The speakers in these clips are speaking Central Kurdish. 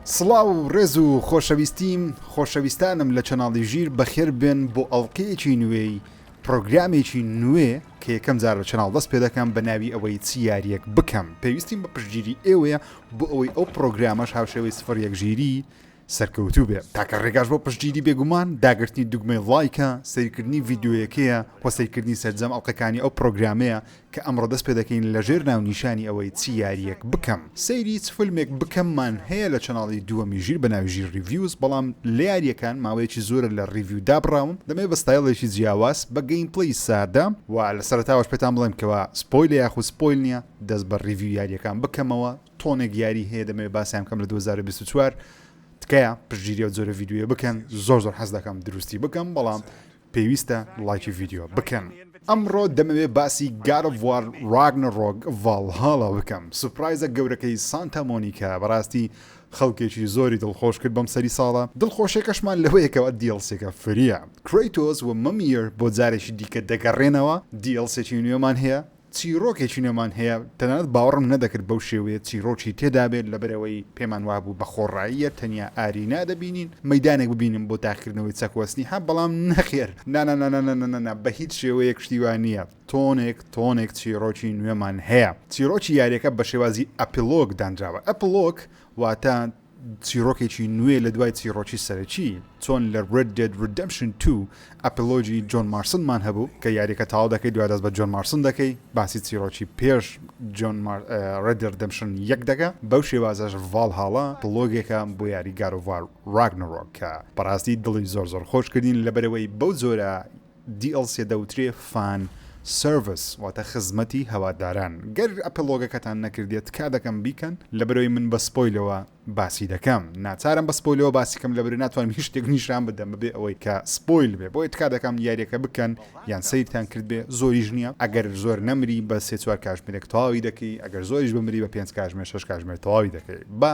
سڵاو و ڕێز و خۆشەویستیم خۆشەویستانم لە چەناڵی ژیر بەخێر بێن بۆ ئەڵلقەیەکی نوێی پرۆگرامێکی نوێ کە یەکەم جار لە چناڵ دەست پێ دەکەم بە ناوی ئەوەی چی یاریەک بکەم پێویستیم بە پشتگیری ئێوەیە بۆ ئەوەی ئەو پرۆگرامەش هاوشێوەی سفر یەک ژیری سەرکەوتوو بێ تاکە ڕێگاش بۆ پشتگیری بێگومان داگرتنی دوگمەی ڵایکە سەیرکردنی ڤیدیۆیەکەیە وە سەیرکردنی سەرجەم ئەڵقەکانی ئەو پڕۆگرامەیە کە ئەمڕۆ دەست پێدەکەین لەژێر ناونیشانی ئەوەی چ یاریەک بکەم سەیری چ فلمێک بکەممان هەیە لە چەناڵی دووەمی ژیر بەناوی ژیر ڕیڤیوز بەڵام لە یاریەکان ماوەیەکی زۆرە لە ڕیڤیو دابڕاوم دەمەوێت بە ستایڵێکی جیاواز بە گەیم پلەی سادە وە لە سەرەتاوەش پێتان بڵێم کەوا سپۆیلە یاخود سپۆیل نیە دەست بە ڕیڤیو یاریەکان بکەمەوە تۆنێک یاری هەیە دەمەوێت باسیان کەم لە 2024 تکایە پشگیری و جۆرە یددیوە بکەن زۆر زۆر حەز دەکەم دروستی بکەم بەڵام پێویستە لایکی یددیو بکەن ئەمڕۆ دەمەوێ باسی گارڤوار ڕاگنە ڕۆگ ڤالهاڵە بکەم سوپرایزە گەورەکەی سانتا مۆنیکا بەڕاستی خەڵکێکی زۆری دڵخۆش کرد بەم سەری ساڵە دڵخۆشێکەشمان لەوەیەکەوە دیڵسێکە فریە کریتۆز و مەمیر بۆ جارێکی دیکە دەگەڕێنەوە دیڵسێکی نوێمان هەیە چیڕۆکێکی نوێمان هەیە، تەنانەت باوەڕم نەدەکرد بەو شێوەیە چیڕۆکی تێدابێت، لەبەرئەوەی پێمان وابوو بە خۆڕاییە تەنیا ئارینا دەبینین، مەیدانێک ببینم بۆ تاقیکردنەوەی چەکۆ سنیحە، بەڵام نەخێر، نانانانانانانانا، بە هیچ شێوەیەک شتی وا نییە، تۆنێک تۆنێک چیڕۆکی نوێمان هەیە، چیڕۆکی یاریەکە بە شێوازی ئەپیڵۆگ دانراوە، ئەپڵۆگ واتە، چیڕۆکێکی نوێ لە دوای چیڕۆکی سەرەکی، چۆن لە Red Dead Redemption 2 ئەپلۆگی جۆن مارسنمان هەبوو، کە یاریەکە تەواو دەکەی دوای دەست بە جۆن مارسن دەکەی، باسی چیڕۆکی پێش Red Dead Redemption 1 دەکا، بەو شێوازەش Valhalla ئەپلۆگێکە بۆ یاری God of War Ragnarok کە بەڕاستی دڵی زۆر زۆر خۆش کردین لەبەرئەوەی بەو جۆرە DLC-ە دەوترێ Fan Service واتە خزمەتی هەواداران گەر ئەپڵ لۆگەکەتان نەکردیە تکا دەکەم بیکەن لەبەرەوەی من بە سپۆیلەوە باسی دەکەم ناچارم بە سپۆیلەوە باسی کەم لەبەرەوەی ناتوانم هیچ شتێک نیشان بدەم بەبێ ئەوەی کە سپۆیل بێ بۆیە تکا دەکەم یاریەکە بکەن یان سەیرتان کردبێ زۆریش نیە ئەگەر زۆر نەمری بە سێ چوار کاژمێرێک تەواوی دەکەی ئەگەر زۆریش بمری بە پێنج کاژمێر شەش کاژمێر تەواوی دەکەی بە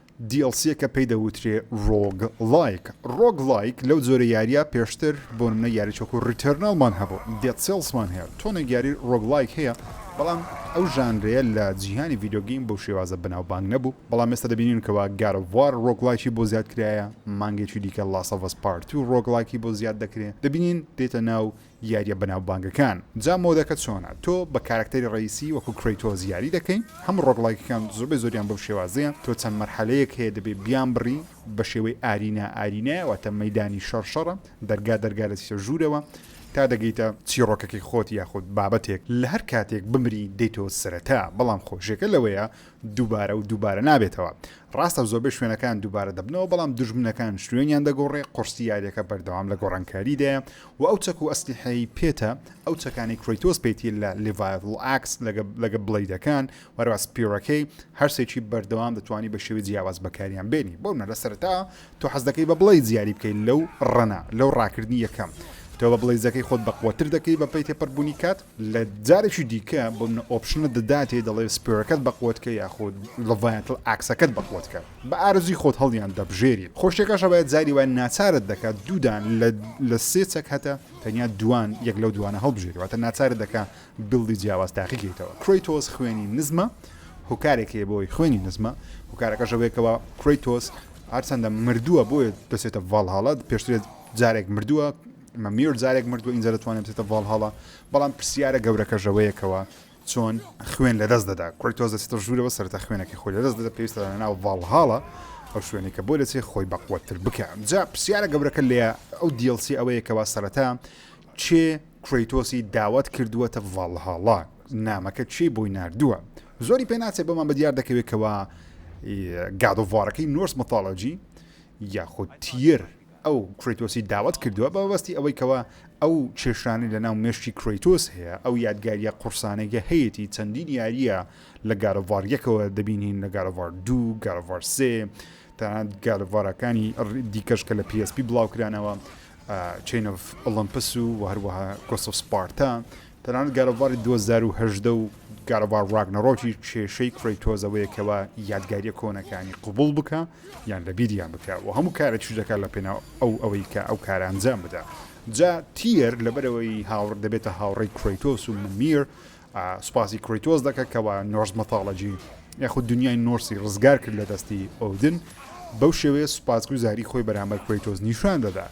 دیڵسیەکە پێی دەوترێ ڕۆگ ڵایک ڕۆگ ڵایک لەو جۆرە یاریە پێشتر بۆ نمونە یاریەک وەکو ڕیتێرناڵمان هەبوو دێد سێڵسمان هەیە تۆنێک یاری ڕۆگ ڵایک هەیە بەڵام ئەو ژانرەیە لە جیهانی ڤیدیۆ گەیم بەو شێوازە بەناوبانگ نەبوو بەڵام ئێستا دەبینین کەوا گاد ئۆف وار ڕۆگ ڵایکی بۆ زیاد کرایە مانگێکی دیکە ڵاست ئۆف ئەس پارت تو ڕۆگ ڵایکی بۆ زیاد دەکرێ دەبینین دێتە ناو یاریە بەناوبانگەکان جا مۆدەکە چۆنە تۆ بە کارەکتەری ڕەیسی وەکو کرەیتۆس یاری دەکەی هەموو ڕۆگڵایکەکان زۆربەی زۆریان بەو شێوازەیە تۆ چەند مەرحەلەیەک هەیە دەبێ بیان بڕی بە شێوەی ئارینا ئارینایە واتە مەیدانی شەڕ شەڕە دەرگا دەرگا دەچیتە ژوورەوە تا دەگەیتە چیڕۆکەکەی خۆت یاخود بابەتێک لە هەر کاتێک بمری دێیتەوە سەرەتا بەڵام خۆشیەکە لەوەیە دووبارە و دووبارە نابێتەوە. ڕاستە زۆربەی شوێنەکان دووبارە دەبنەوە، بەڵام دوژمنەکان شوێنیان دەگۆڕێ، قورسی یاریەکە بەردەوام لە گۆڕانکاریدایە و ئەو چەک و ئەسلیحەی پێتە، ئەو چەکانەی کرەیتۆس پێیتیە لە لیڤایەڤڵ ئاکس لەگە بڵەیدەکان وەرەوە سپیڕەکەی، هەرسێکی بەردەوام دەتوانی بە شێوەی جیاواز بەکاریان بێنی. بۆنمونە لە سەرەتا تۆ حەزدەکەی بە بڵەیدز یاری بکەی لەو ڕەنە، لەو ڕاکردنی یەکەم تۆ بە بڵەیدزەکەی خۆت بەقوەتر دەکەی بە پێی تێپەربوونی کات، لە جارێکی دیکە بۆ منە ئۆپشنە دەداتێ دەڵێ سپێرەکەت بە قوتکە یاخود لە ڤایەتڵ ئاکسەکەت بە قوتکە بە ئارەزوی خۆت هەڵیان دەبژێری خۆ شتێکەش هەبایە جاری وای ناچارت دەکا دوودان لە لە سێ چەک هەتە تەنیا دووان یەک لەو دووانە هەڵبژێری واتە ناچارت دەکا بیڵدی جیاواز تاقی کەیتەوە کرەیتۆس خوێنی نزمە هۆکارێک هەیە بۆی خوێنی نزمە هۆکارەکەش ئەوەیە کەوا کرەیتۆس هەرچەندە مردووە بۆیە دەچێتە ڤاڵهاڵا پێشترێ جارێک مردووە میر جارێک مردوە ئینجا دەتوانێت بچێتە ڤاڵهاڵا بەڵام پرسیارە گەورەکەش ئەوەیە کەوە چۆن خوێن لەدەست دەدا کورتۆز دەچێتە ژوورەوە سەرتا خوێنەکەی خۆی لەدەست دەدا پێویستە لە ناو ڤاڵهاڵە ئەو شوێنی کە بۆ دەچێت خۆی بەقوەتتر بکە جا پرسیارە گەورەکە لێ ئەو دیڵسی ئەوەیە کەوا سەرەتا چێ کریتۆسی داوت کردووەتە ڤاڵهاڵا نامەکە چی بۆی نردووە زۆری پێ ناچێت بۆمان بە دیار دەکەوێتەوە گادۆڤارەکەی نۆرس متالۆجی یاخود تیر ئەو کرەیتۆسی داوەت کردووە بە مەبەستی ئەوەی کەوا ئەو کێشانەی لە ناو مێشکی کرەیتۆس هەیە ئەو یادگاریە قوڕسانەی کە هەیەتی چەندین یاریە لە گاد ئۆف وار یەکەوە دەبینین لە گاد ئۆف وار دوو گاد ئۆف وار سێ تەنانەت گاد ئۆف وارەکانی دیکەش کە لە پی ئێس پی بڵاوکرانەوە چین ئۆف ئۆڵەمپس و هەروەها گۆست ئۆف سپارتا تەنانەت گاد ئۆف واری دوو هەزار و هەژدە و گاد ئۆف وار ڕاگنەڕۆکی کێشەی کرەیتۆس ئەوەیە کەوا یادگاریە کۆنەکانی قبوڵ بکە یان لە بیریان بکە و هەموو کارێکیش دەکات لە پێناو ئەو ئەوەی کە ئەو کارە ئەنجام بدا جا تیەر لەبەرەوەی هاوڕ دەبێتە هاوڕێی کرەیتۆس و ممیر سوپاسی کرەیتۆس دەکە کەوا نۆرس مەتاڵەجی یاخود دنیای نۆرسی ڕزگار کرد لە دەستی ئۆدن بەو شێوەیە سوپاسگوزاری خۆی بەرامبەر کرەیتۆس نیشان دەدات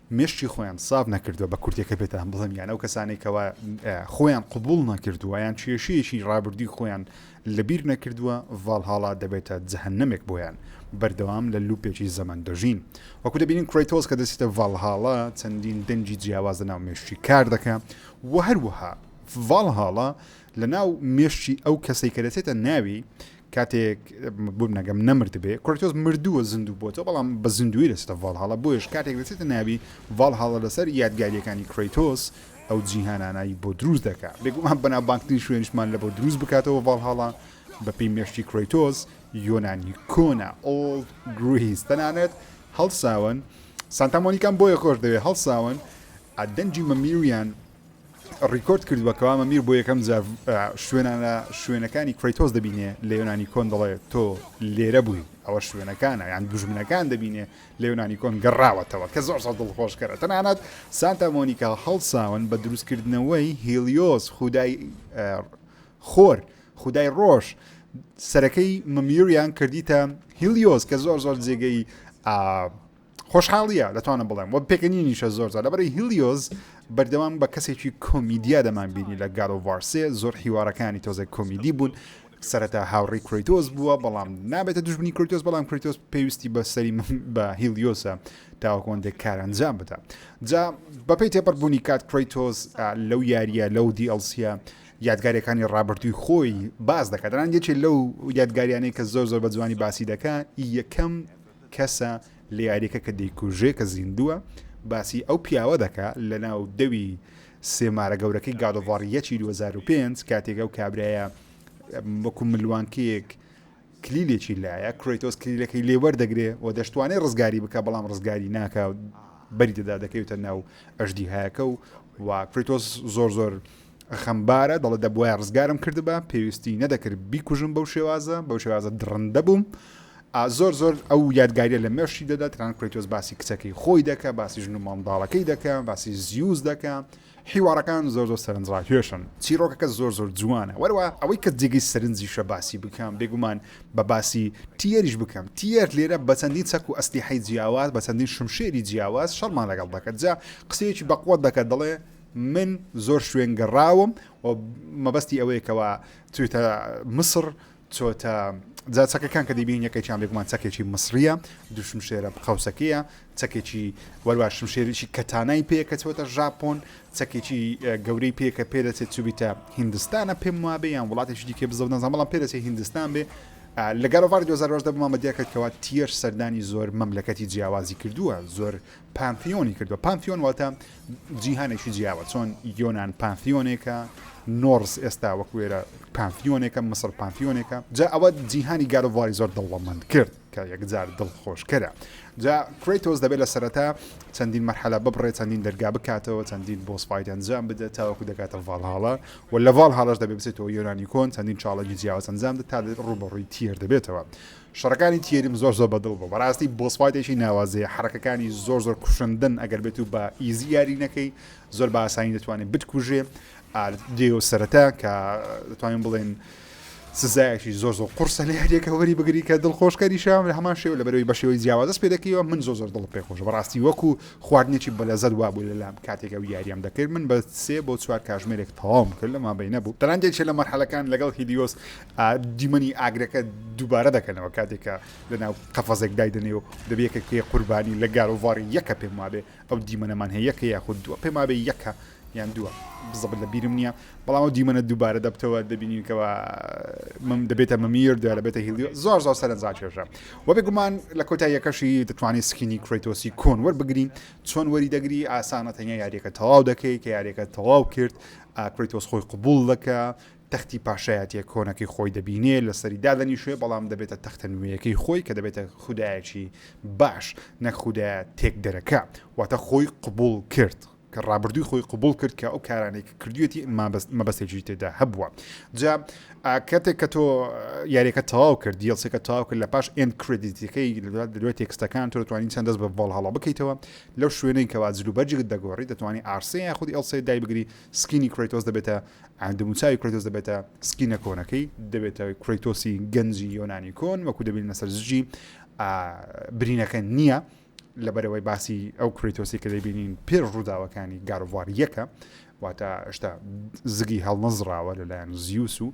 مێشکی خۆیان ساف نەکردوە بە کورتێکە پێتان بڵێم یان ئەو کەسانەی کەوا خۆیان قبول نەکردوە یان کێشەیەکی ڕابردووی خۆیان لەبیر نەکردوە ڤاڵهاڵا دەبێتە جەهەنەمێک بۆیان بەردەوام لە لوپێکی زەمەن دەژین وەکو دەبینین کرەیتۆس کە دەچێتە ڤاڵهاڵا چەندین دەنگی جیاواز لە ناو مێشکی کار دەکا و هەروەها ڤاڵهاڵا لە ناو مێشکی ئەو کەسەی کە دەچێتە ناوی کاتێک بومنەگەم نەمردبێ، کرەیتۆس مردووە زیندوو بۆتەوە، بەڵام بە زیندوویی دەچێتە ڤاڵهاڵا، بۆیەش کاتێک دەچێتە ناوی ڤاڵهاڵا لەسەر یادگارییەکانی کرەیتۆس ئەو جیهانانە ی بۆ دروست دەکا، بێگومان بەناوبانگترین شوێنیشمان لە بۆ دروست بکاتەوە ڤاڵهاڵا بەپێی مێشکی کرەیتۆس یۆنانی کۆنە Old Greece تەنانەت هەڵساون سانتا مۆنیکام بۆیە خۆش دەوێ هەڵساون دەنگی مەمیویان ڕیکۆرد کردووە کەوا مەمیر بۆ یەکەم جار شوێنانە شوێنەکانی کرەیتۆس دەبینێ لە یۆنانی کۆن دەڵێ تۆ لێرە بووی ئەوە شوێنەکانە یان دوژمنەکان دەبینێ لە یۆنانی کۆن گەڕاوەتەوە کە زۆر زۆر دڵخۆشکەرە تەنانەت سانتا مۆنیکا هەڵساون بە دروستکردنەوەی هیلیۆس خودای خۆر خودای ڕۆژ سەرەکەی مەمیریان کردیتە هیلیۆس کە زۆر زۆر جێگەی خۆشحاڵیە دەتوانم بڵێم وە پێکەنینیشە زۆر زۆر لەبەری هیلیۆز بەردەوام بە کەسێکی کۆمیدیا دەمان بینی لە گارۆڤارسێ زۆر حیوارەکانی تۆزێک کۆمیدی بوون سەرەتا هاوڕی کریتۆز بووە بەڵام نابێتە دژبنی کریتۆز بەڵام کریتۆز پێویستی بە سەری من بە هیلیۆسە تاوەکۆندێک کارەنجام بدە جا بەپی تێپەربوونی کات کریتۆز لەو یاریە لەو دیLCە یادگارەکانی ڕابرتووی خۆی باز دەکاتدان یەکێ لەو یادگاریانەی کە زۆر زۆر بە جوانی باسی دەکە یەکەم کەسە لە یاریەکە کە دەیکوژێ کە زیندووە باسی ئەو پیاوە دەکا لە ناو دەوی سێمارە گەورەکەی گادۆڤاریەکی 2005 کاتێک ئەو کابراە وەکو ملوانکەیەک کلیلێکی لایە کرۆیتۆس کلیلەکەی لێوەردەگرێ و دەشتوانێت ڕزگاری بکە بەڵام ڕزگاری ناکە بەری دەدا دەکەوێتە ناو ئەشدی هایەکە و و کرۆیتۆس زۆر زۆر خەمبارە دەڵێ دەبواە ڕزگارم کردبا پێویستی نەدەکرد بیکوژم بەو شێوازە بەو شێوازە دڕندە بووم زۆر زۆر ئەو یادگاریە لە مێشی دەدا تران کرێتۆز باسی کچەکەی خۆی دەکە باسی ژن و مامداڵەکەی دەکە باسی زیوز دەکە حیوارەکان زۆر زۆر سەرنجڕاکێشن چیرۆکەکە زۆر زۆر جوانە وەرەوە ئەوەی کە جێگەی سەرنجیشە باسی بکەم بێگومان بە باسی تیەریش بکەم تیەر لێرە بە چەندین چەک و ئەستی حی جیاواز بە چەندین شمشێری جیاواز شەرمان لەگەڵ دەکەجا قسەیەکی بەقوت دەکە دەڵێ من زۆر شوێن گەڕاوم و مەبەستی ئەوەیە کەوا چویتە مصر چۆتە جا چەکەکان کە دەبین یەکێکیان بێگومان چەکێکی مصریە دوشم شێرە بقەوسەکەیە چەکێکی وەروە شم شێریی کەتانای پێ کە چۆتە ژاپۆن چەکێکی گەورەی پێ کە پێ دەچێت چوبیتە هندستانە پێم وابێ یان وڵاتێکی دیکە بزەوت نەزان بەڵام پێ دەچێت هندستان بێ لەگەڵ ڤار 2010 بمامە دیاکەتەوە تیەر سەردانی زۆر مەملەکەتی جیاوازی کردووە زۆر پانثیۆنی کردووە، پانثیۆن واتە جیهانێکی جیاوە، چۆن یۆنان پانثیۆنێکە، نۆرس ئێستا وەک وێرە پانثیۆنێکە، مسڕ پانثیۆنێکە، جا ئەوە جیهانی گاد ئۆف واری زۆر دەوڵەمەند کرد کە یەکجار دڵخۆشکەرە. جا کرەیتۆس دەبێت لە سەرەتا چەندین مەرحەلە ببڕێت، چەندین دەرگا بکاتەوە، چەندین بۆس فایت ئەنجام بدات تاوەکو دەگاتە ڤاڵهاڵا و لە ڤاڵهاڵاش دەبێت بچێتەوە یۆنانی کۆن، چەندین چاڵێنجی جیاواز ئەنجام دەدات تا ڕووبەڕووی تیەر دەبێتەوە. شەڕەکانی تیێریم زۆر زۆر بەدڵ بوو بەڕاستی بۆس فایتێکی ناوازەیە حەڕەکەکانی زۆر زۆر کوشندەن ئەگەر بێت و بە ئیزی یاری نەکەی زۆر بە ئاسانی دەتوانێت بتکوژێ دێو سەرەتا کە دەتوانین بڵێن سزایەکی زۆر زۆر قرسە لە هەرێکە وەری بگری کە دڵخۆشکەری شام لە هەمان شێو لە بەرەوەی بەشێوەی جیاوازەست پێ دەکەیەوە من زۆر زۆر دڵ پێ خۆش بەڕاستی وەکو خواردنێکی بەلەزەت وا بوو لەلام کاتێکە و یاریان دەکرد من بە سێ بۆ چوار کاژمێرێک تەواوم کرد لەما بینە بوو تەنانجێکێ لە مەرحەلەکان لەگەڵ هیدیۆس دیمەنی ئاگرەکە دووبارە دەکەنەوە کاتێک کە لەناو قەفەزێک دایدەنێ و دەبێکە کێ قوربانی لە گارۆڤاری یەکە پێم وابێ ئەو دیمەنەمان هەیە یەکە یاخود دووە پێمابێ یەکە یان دووە بزەبت لە بیرم نییە بەڵام ئەو دیمەنە دووبارە دەبتەوە دەبینینکەوە من دەبێتە مەمیر دوێ لە بێتە هیلی زۆر زۆر سەرنجا کێشە وە بێگومان لە کۆتا یەکەشی دەتوانانی سکینی کرێتۆسی کۆن وەربگرین چۆن وەری دەگری ئاسانە تەنیا یاریەکە تەواو دەکەی کە یاریەکە تەواو کرد کرێتۆس خۆی قوبول دەکە تەختی پاشایەتیە کۆنەکەی خۆی دەبینێ لەسەری دادەنیشێ بەڵام دەبێتە تەختە نوێیەکەی خۆی کە دەبێتە خودایەکی باش نەک خودایە تێکدەرەکە واتە خۆی قبوڵ کرد کە ڕابردووی خۆی قبوڵ کرد کە ئەو کارانەی کە کردوێتی مابەست مەبەستێکی تێدا هەبووە جا کاتێک کە تۆ یاریەکە تەواو کرد دیڵسەکە تاو کرد لە پاش ئێن کردیتەکەی لەدوێت تێکستەکان تۆ دەتوانین چەند دەست بە ڤڵ هەڵە بکەیتەوە لەو شوێنەی کەوا جلوبەرجێک دەگۆڕی دەتوانانی ئارسەیە خودی ئەڵسێ دایبگری سکینی کرەیتۆس دەبێتە دەموچاوی کرەیتۆس دەبێتە سکینە کۆنەکەی دەبێتە کرەیتۆسی گەنجی یۆنانی کۆن وەکو دەبین لەسەر زجی برینەکە نییە لەبەرەوەی باسی ئەو کرەیتۆسی کە دەبینین پێر ڕووداوەکانی گاروڤار یەکە واتە شتا زگی هەڵنەزراوە لەلایەن زیوس و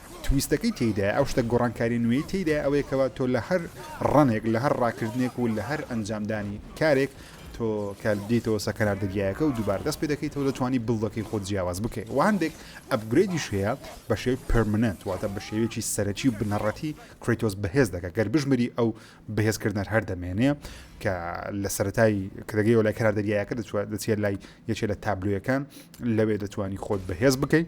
تویستەکەی تێیدایە، ئەو شتە گۆڕانکاریە نوێی تێیدایە ئەوەیە کەوا تۆ لە هەر ڕەنێک لە هەر ڕاکردنێک و لە هەر ئەنجامدانی کارێک تۆ کە دێیتەوە سە کەنار دەریایەکە و دووبارە دەست پێ دەکەیتەوە دەتوانی بڵدەکەی خۆت جیاواز بکەی و هەندێک ئەپگرێدیش هەیە بە شێوی پەرمننت واتە بە شێوێکی سەرەکی و بنەڕەتی کرەیتۆس بەهێز دەکە گەر بژمری ئەو بەهێزکردنەر هەر دەمێنێ کە لە سەتای کە دەگەیەوە لای کەنار دەریایەکە دەچێت لای یەکێ لە تابلۆیەکان لەوێ دەتوانی خۆت بەهێز بکەیت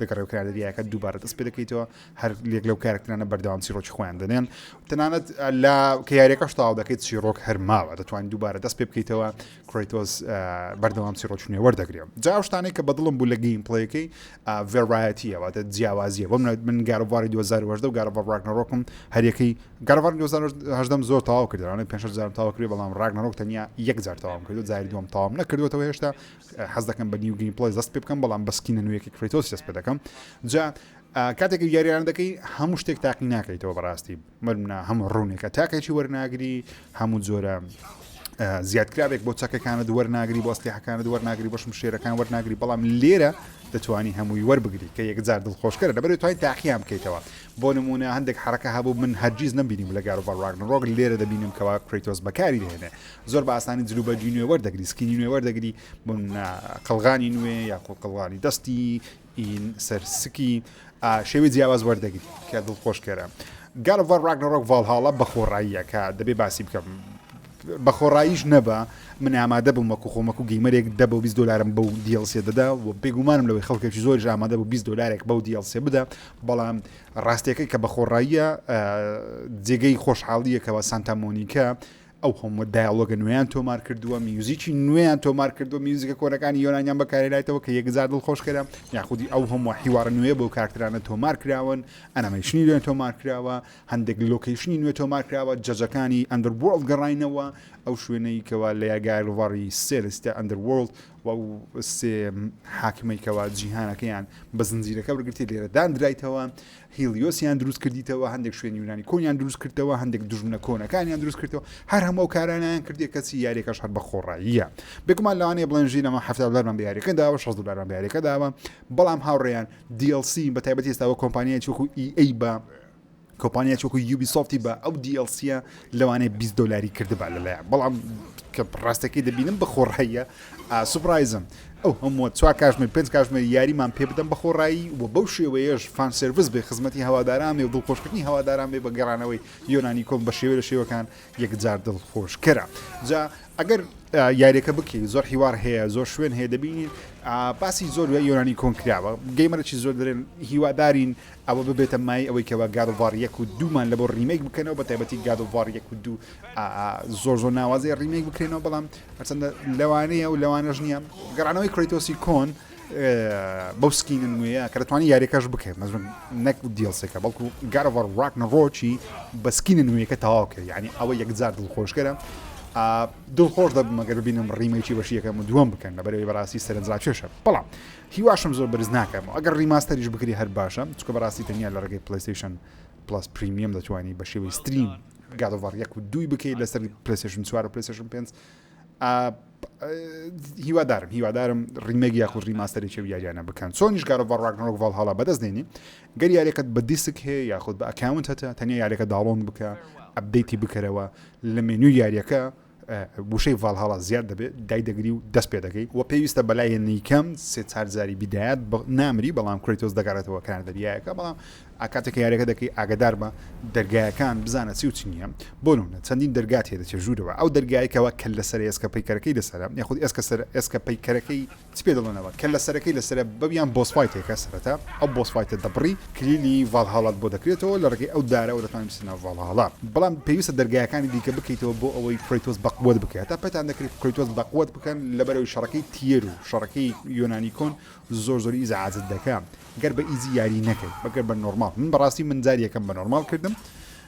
دەگەڕێ و کارەریاکە دووبارە دەست پێ دەکەیتەوە هەر لێک لەو کارکترانە بەردەوام چیرۆکی خۆیان دەنێن تەنانەت لە کە یاریەکەش تاو دەکەیت چیرۆک هەرماوە دەتوانین دووبارە دەست پێ بکەیتەوە کرۆیتۆز بەردەوام چیرۆکی نوێ وەردەگرێم جا شتانێک کە بەدڵم بوو لە گەیم پلەیەکەی ڤێڕایەتیەوە دە جیاوازیە بۆ من گارڤاری 2010 و گارڤ ڕاگنەڕۆکم هەرەکەی گارڤار 2010 زۆر تاوا کردوانە پێ جار تاوا کرد بەڵام ڕاگنەڕۆک تەنیا یەک جار تاوام کردو جاری دوم تاوام نەکردوەوە هێشتا حەز دەکەم بە نیو گەیم پڵەی دەست پێ بکەم بەڵام بە سکینە نوێیەکی کریتۆس دەست پێ دەکەم جا کاتێکی یاریان دەکەی هەموو شتێک تاقی ناکەیتەوە بەڕاستی مەرمنا هەموو ڕوونێکە تاکێکی وەرناگری هەموو جۆرە زیادکراوێک بۆ چەکەکانە دووەەر ناگری بۆ ئەسلیحەکانە دووەەر ناگری بەشم شێرەکان وەرناگری بەڵام لێرە دەتوانی هەمووی وەربگری کە یەکجار دڵخۆشکەرە لەبەر توای تاقییان بکەیتەوە بۆ نمونە هەندێک حرەکە هەبوو من هەرگیز نبینیم لە گار و بەڕواگن ڕۆگ لێرە دەبینم کەوا کریتۆس بەکاری دێنێ زۆر بە ئاسانی جل و بەرگی نوێ وەردەگری سکینی نوێ وەردەگری بۆمنە قەلغانی نوێ یا قوڵ قەڵغانی دەستی ئین سەر سکی شێوی جیاواز وەردەگری کە دڵ خۆشکەرە گالڤ ڕاگنەڕۆک ڤالهاڵە بە خۆڕاییەکە دەبێ باسی بکەم بە خۆڕاییش نەبە من ئامادە بووم وەکو خۆمەکو گەیمەرێک دە بۆ 20 دلارم بەو دیڵسێ دەدا و بێگومانم لەوەی خەڵکێکی زۆر ئامادە بوو 20 دلارێک بەو دیڵسێ بدە بەڵام ڕاستیەکەی کە بە خۆڕاییە جێگەی خۆشحاڵیەکەوە سانتامۆنیکە ئەو هەمووە دایەڵۆگە نوێیان تۆمار کردووە، میوزیکی نوێیان تۆمار کردووە، میوزیکە کۆنەکانی یۆنانیان بەکارهێنایتەوە کە یەکجار دڵخۆشکەرە، یاخودی ئەو هەمووە حیوارە نوێیە بەو کارکتەرانە تۆمار کراون، ئەنەمەیشنی نوێ تۆمار کراوە، هەندێک لۆکەیشنی نوێ تۆمار کراوە، جەجەکانی ئەندەروۆرڵد گەڕاینەوە، ئەو شوێنەی کەوا لەیا گایلڤاڕی سێ لە سیتای ئەندەروۆرڵد و ئەو سێ حاکمەی کەوا جیهانەکەیان بە زنجیرەکە وەرگرتیە لێرە داندرایتەوە، هیلیۆسیان دروست کردیتەوە هەندێک شوێن یونانی کۆنیان دروست کردەوە هەندێک دژمنە کۆنەکانیان دروست کردەوە هەر هەموو کارانیان کردێک کەسی یاریەکەش هەر بە خۆڕاییە بێگومان لەوانەیە بڵێن ژی لەمە هەفتا دلارمان بیارەکە داوە 16 دلارمان بیارەکە داوە بەڵام هاوڕێیان DLC بە تایبەتی ئێستاوە کۆمپانیای چوەکو EA بە کۆمپانیا چۆکو یوبی سۆفتی بە ئەو دیLCە لەوانەیە بیست دۆلاری کردبا لەلایان بەڵام کە ڕاستەکەی دەبینم بە خۆڕاییە سوپرایزم ئەو هەمووە چوار کاژمێر پێنج کاژمێر یاریمان پێ بدەم بە خۆڕایی و بەو شێوەیەش فان سرویس بێ خزمەتی هەواداران بێ و دڵخۆشکردنی هەواداران بێ بە گەڕانەوەی یۆنانی کۆم بە شێوە لە شێوەکان یەکجار دڵخۆشکەرە جا ئەگەر یاریەکە بکەی زۆر هیوار هەیە زۆر شوێن هەیە دەبینین باسی زۆر یۆنانی کۆنکراوە گەیمەرەی زۆر درێن هیوادارین ئەوە ببێتە مایەی ئەوەی کەوا گاد ئۆف وار یەک و دوومان لەبۆ ڕیمەیک بکەنەوە بە تایبەتی گاد ئۆف وار یەک و دوو زۆر زۆر ناوازەیە ڕیمەیک بکرێنەوە بەڵام هەرچەندە لەوانەیە و لەوانەش نییە گەڕانەوەی کرێتۆسی کۆن بەو سکینە نوێیە کە دەتوانانی یاریەکەش بکەێت مەزم نەک دیڵسێکە بەڵکو گارڤەر ڕاک نەڕۆکی بە سکینە نوێیەکە تەواوکە یعنی ئەوە یەکجار دڵخۆشکەرە دڵخۆش دەبمەگەر ببینم ڕیمەیکی بەشیەکەم و دووەم بکەن لە بەرەوەی بەڕاستی سەرنجراکێشە بەڵام هیواشم زۆر بەرز ناکەمەوە ئەگەر ڕیماستەریش بکری هەر باشە چکە بەڕاستی تەنیا لە ڕێگەی پلەیستەیشن پڵەس پریمیەم دەتوانی بە شێوەی ستریم گادۆڤار یەک و دووی بکەیت لەسەر پلەسێشن چوار و پلەسێشن پێنج هیوادارم هیوادارم ڕیمەگ یاخود ڕیماستەرێکی و یاریانە بکەن چۆنیش گارۆڤ ڕاگنۆک ڤڵ هەڵا بەدەست دێنی گەر یارەکەت بە دیسک هەیە یاخود بە ئەکاونت هەتە تەنیا یارەکە داڵۆن بکە ئەبدەیتی بکەرەوە لە مێنوی یاریەکە وشەی ڤالهالا زیاد دەبێ دایدەگری و دەست پێ دەکەی وە پێویستە بەلایەنی کەم سێ چار جاری بیدایات نامری بەڵام کرەیتۆس دەگەڕێتەوە کار دەریایەکە بەڵام ئاکاتێک یاریەکە دەکەی ئاگدار بە دەرگایەکان بزانە چی و چ نییە بۆ نمونە چەندین دەرگات هێ دەچێ ژوورەوە ئەو دەرگایکەوە کە لەسەر ئێسکە پەیکەرەکەی لەسەرە یاخود ئێسکە سەر ئێسکە پەیکەرەکەی چ پێ دەڵێن ئەوە کەللە سەرەکەی لەسەرە بەو یان بۆس فایتێکە سەرەتا ئەو بۆس فایتە دەبڕی کلیلی ڤالهالات بۆ دەکرێتەوە لە ڕێگەی ئەو دارەوە دەتوانی بچیتە ناو ڤالهالا بەڵام پێویستە دەرگایەکانی دیکە بکەیتەوە بۆ ئەوەی کرەیتۆس بەقوەت بکەی هەتا پێتان دەکرێت کرەیتۆس بەقوەت بکەن لەبەرەوەی شەڕەکەی تیەر و شەڕەکەی یۆنانی کۆن زۆر زۆر ئیزعاجت دەکا گەر بە ئیزی یاری نەکەی بەگەر بە نۆرماڵ من بەڕاستی من جاری یەکەم بە نۆرماڵ کردم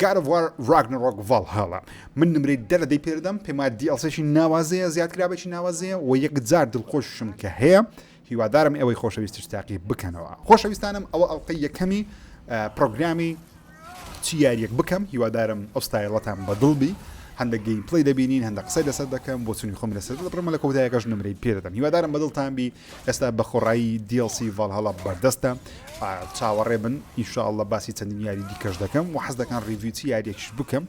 گاد ئۆف وار ڕاگنەڕۆک ڤاڵهالا من نمرەی دە لە دەی پێدەدەم پێم وایە دی ئێڵ سێکی ناوازەیە زیادکراوێکی ناوازەیە وە یەکجار دڵخۆششم کە هەیە هیوادارم ئێوەی خۆشەویستیش تاقی بکەنەوە خۆشەویستانم ئەوە ئەڵلقەی یەکەمی پرۆگرامی چی یاریەک بکەم هیوادارم ئەو ستایلەتان بە دڵ بی هەندە گەیم پلی دەبینین هەندە قسەی لەسەر دەکەم بۆ چونی خۆم لەسەر دەبڕمە لە کۆتایەکەش نمرەی پێدەدەم هیوادارم بە دڵتان بی ئێستا بە خۆڕایی DLC ڤالهالا بەردەستە چاوەڕێ بن ان شاء اللە باسی چەندین یاری دیکەش دەکەم و حەز دەکەن ڕیڤیو چی یاریەکیش بکەم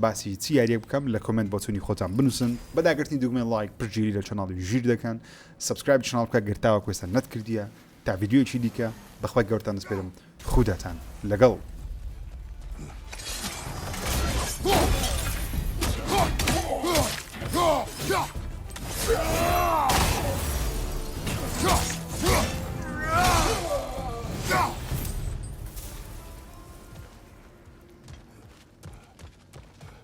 باسی چی یاریەک بکەم لە کۆمنت بۆچوونی خۆتان بنووسن بەداگرتنی دوگمێن لایک پشتگیری لە چەناڵی ژیر دەکەن سبسکرایب چناڵ بکە گرتاوە کوێستان نەتکردیە تا ڤیددیویەکی دیکە بەخوای گەورتان دەسپێرم خوداتان لەگەڵ.